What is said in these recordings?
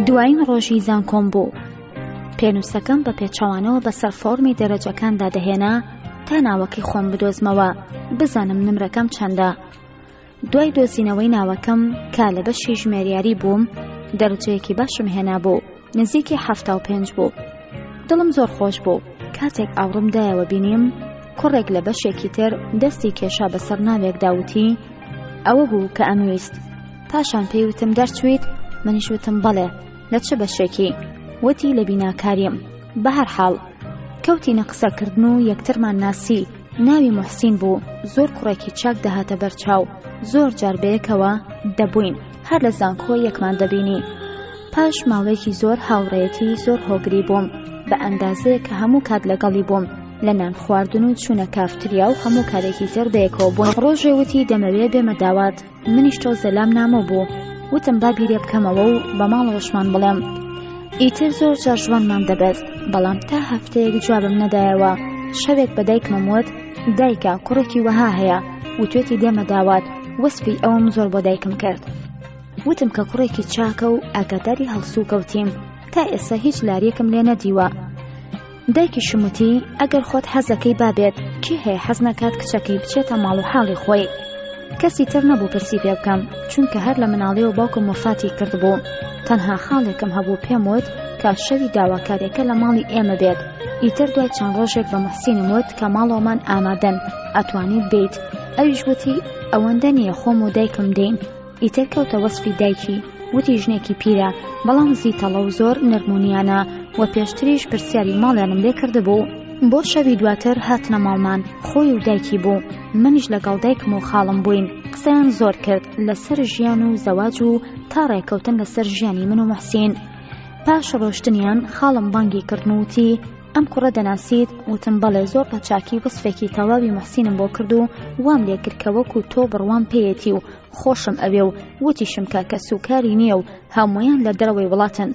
دوایین ڕۆژی زانکۆم بوو پێنووسەکەم بە پێچەوانەوە بەسەر فۆرمی دەرەجەکاندا دەهێنا تا ناوەکەی خۆم بدۆزمەوە بزانم نمرەکەم چەندە دوای دۆزینەوەی ناوەکەم کا لە بەشی ژمێریاری بووم دەرجەیەکی باشم هێنا بوو نزیکی حەفتا و پێنج بوو دڵم زۆر خۆش بوو کاتێک ئاوڕم دایەوە بینیم کوڕێک لە بەشێکی تر دەستی کێشا بەسەر ناوێک داوتی ئەوە بوو کە ئەمویست پاشان پێی وتم دەرچویت منیش وتم بەڵێ لە چ بەشێکی وتی لە بیناکاریم بەهر حاڵ کەوتینە قسەکردن و یەکترمان ناسی ناوی محسین بوو زۆر کوڕێکی چاک دەهاتە بەرچاو زۆر جار بەیەکەوە دەبووین هەر لە زانکۆ یەکمان دەبینی پاش ماوەیەکی زۆر هاوڕێتی زۆر هۆگری بووم بە ئەندازەیە کە هەموو کات لەگەڵی بووم لە نان خواردن و چوونە کافتریا و هەموو کارێکی تر بەیەکەوە بوون ڕۆژێ وتی دەمەوێ بێمە داوات منیش تۆ زەلام نامۆ بوو وتم با بیرێ بکەمەوە و بە ماڵەوەشمان بڵێم ئیتر زۆر جاژوانمان دەبێت بەڵام تا هەفتەیەک جوابم نەدایەوە شەوێک بەدایکمم وت دایکە کوڕێکی وەها هەیە وتوێتی دێمە داوات وەسفی ئەوم زۆر بۆ دایکم کرد وتم کە کوڕێکی چاکە و ئاگاداری هەڵسو کەوتیم تا ئێستا هیچ لاریەکم لێ نەدیوە دایکی شموتی ئەگەر خۆت حەزەکەی بابێت کی هەیە حەز نەکات کچەکەی بچێتە ماڵ و حاڵی خۆی کەسی تر نەبوو پرسی پێ بکەم چونکە هەر لە مناڵی و باوکم وفاتی کردبوو تەنها خاڵێکم هەبوو پێم وت کە شەوی داواکارێکە لە ماڵی ئێمە بێت ئیتر دوای چەند ڕۆژێک بە موحسینم وت کە ماڵەوەمان ئامادەن ئەتوانیت بیت ئەویش وتی ئەوەندە نییە خۆم و دایکم دێین ئیتر کەوتە وەسفی دایکی وتی ژنێکی پیرە بەڵام زیتەڵە و زۆر نەرمونیانە و پێشتریش پرسیاری ماڵیانم لێ کردبوو بۆ شەوی دواتر هاتنە ماڵمان خۆی و دایکی بوو منیش لەگەڵ دایکم و خاڵم بووین قسەیان زۆر کرد لەسەر ژیان و زەواج و تا ڕێکەوتن لەسەر ژیانی من و محسین پاش ڕۆشتنیان خاڵم بانگی کردن وتی ئەم کوڕە دەناسیت وتم بەڵێ زۆر بە چاکی وەسفێکی تەواوی محسینم بۆ کرد و وام لێکرد کە وەکو تۆ بڕوام پێیەتی و خۆشم ئەوێ و وتیشم کە کە سوکاری نییە و هەمویان لە دەرەوەی وڵاتن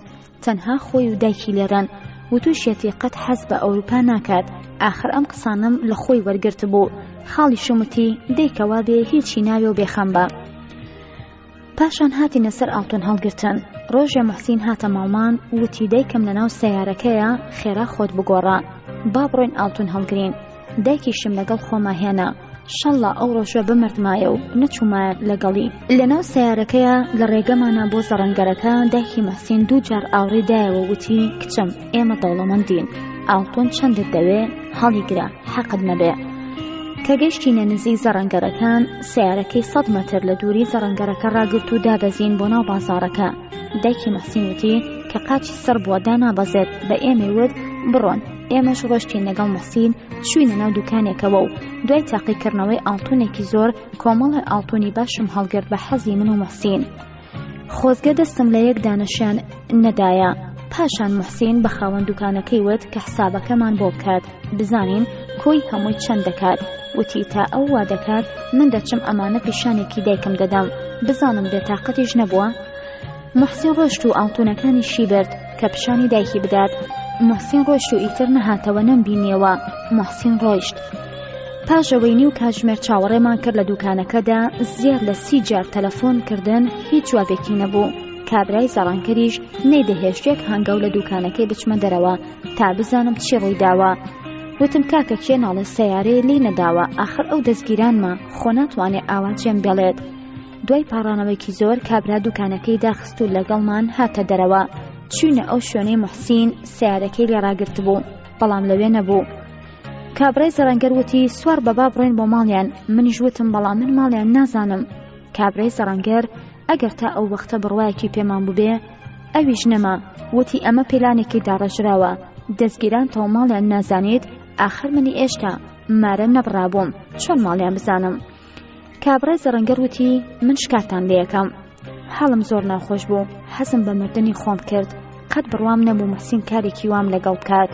تەنها خۆی و دایکی لێران وتوشێتی قەت حەز بە ئەوروپا ناکات ئاخر ئەم قسانم لە خۆی وەرگرت بوو خاڵی شمتی دەیکەوا بێ هیچی ناوێ و بێخەم بە پاشان هاتینە سەر ئاڵتون هەڵگرتن ڕۆژێ محسین هاتە ماڵمان وتی دایکم لەناو سەیارەکەیە خێرا خۆت بگۆڕە با بڕۆین ئاڵتون هەڵگرین دایکیشم لەگەڵ خۆما هێنا شەڵا ئەو ڕۆژە بمردمایە و نەچوومایە لەگەڵی لەناو سیارەکەیە لە ڕێگەمانە بۆ زەڕەنگەرەکە دایکی مەحسین دوو جار ئاوڕی دایەوە وتی کچم ئێمە دەوڵەمەندین ئاڵتون چەندت دەوێ هەڵیگرە حەقت نەبێ کە گەشتینە نزیک زەڕەنگەرەکان سیارەکەی سەد مەتر لە دووری زەڕەنگەرەکە ڕاگرت و دابەزین بۆ ناو بازارەکە دایکی مەحسین وتی کە قاچی سڕ بووە دانابەزێت بە ئێمەی وت بڕۆن ئێمەش ڕۆشتین لەگەڵ مەحسین چوینە ناو دوکانێکەوە و دوای تاقیکردنەوەی ئاڵتونێکی زۆر کۆمەڵی ئاڵتونی باشم هەڵگرت بە حەزی من و مەحسین خۆزگە دەستم لە یەک دانەشیان نەدایە پاشان محسین بە خاوەن دوکانەکەی وت کە حسابەکەمان بۆ بکات بزانین کۆی هەمووی چەند دەکات وتی تا ئەو وا دەکات من دەچم ئەمانە پیشانێکی دایکم دەدەم بزانم بێتاقەتیش نەبووە محسین ڕۆشت و ئاڵتونەکانی شی برد کە پیشانی دایکی بدات محسین ڕۆیشت و ئیتر نەهاتەوە نەمبینیەوە محسین ڕۆیشت پاش ئەوەی نیو کاتژمێر چاوەڕێمان کرد لە دوکانەکەدا زیاد لە سی جار تەلەفۆن کردن هیچ جوابێکی نەبوو کابرای زەڕانکەریش نەیدەهێشت یەک هەنگاو لە دوکانەکەی بچمە دەرەوە تا بزانم چی ڕووی داوە وتم کاکە کێ ناڵێ سەیارەیە لی نەداوە ئاخر ئەو دەستگیرانمە خۆ ناتوانێ ئاوا جێم بێڵێت دوای پاڕانەوەیەکی زۆر کابرا دوکانەکەی داخست و لەگەڵمان هاتە دەرەوە چوینە ئەو شوێنەی موحسین سیارەکەی لێ ڕاگرتبوو بەڵام لەوێ نەبوو کابرای زەڕەنگەر وتی سوار بەبا بڕێن بۆ ماڵیان منیش وتم بەڵام من ماڵیان نازانم کابرای زەڕەنگەر ئەگەر تا ئەو وەختە بڕوایەکی پێمان ببێ ئەویش نەما وتی ئەمە پیلانێکی داڕێژراوە دەستگیران تەو ماڵیان نازانیت ئاخر منی ئێشتا مارە نەبڕابووم چۆن ماڵیان بزانم کابرای زەڕەنگەر وتی من شکاتان لەکەم حاڵم زۆر ناخۆش بوو حەزم بە مردنی خۆم کرد قەت بڕوام نەبوو محسین کارێکی وام لەگەڵ بکات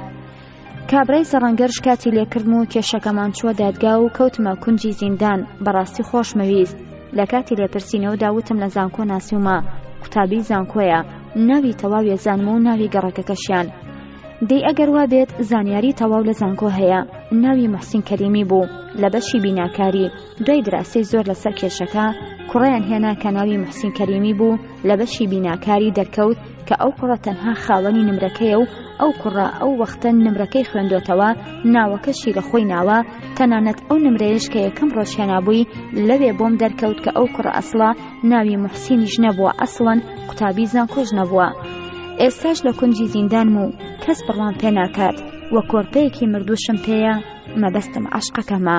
کابرای سەڕەنگەر شکاتی لێکردم و کێشەکەمان چووە دادگا و کەوتمە کونجی زیندان بەڕاستی خۆشمەویست لە کاتی لێپرسینەوە داوتم لە زانکۆ ناسیومە قوتابی زانکۆیە ناوی تەواوێ زانم و ناوی گەڕەکەکەشیان دەی ئەگەر وابێت زانیاری تەواو لە زانکۆ هەیە ناوی محسین کەریمی بوو لە بەشی بیناکاری دوای دراسی زۆر لەسەر کێشەکە کوڕیان هێنا کە ناوی محسین کەریمی بوو لە بەشی بیناکاری دەرکەوت کە ئەو کوڕە تەنها خاوەنی نمرەکەیە و ئەو کوڕە ئەو وەختە نمرەکەی خوێندۆتەوە ناوەکەشی لە خۆی ناوە تەنانەت ئەو نمرەیەش کە یەکەم ڕۆژهێنابووی لەوێ بۆم دەرکەوت کە ئەو کوڕە ئەسڵە ناوی موحسینیش نەبووە ئەسڵەن قوتابی زانکۆش نەبووە ئێستاش لە کونجی زیندانم و کەس بڕوام پێ ناکات وە کۆرپەیەکی مردووشم پێیە مەبەستم عەشقەکەمە.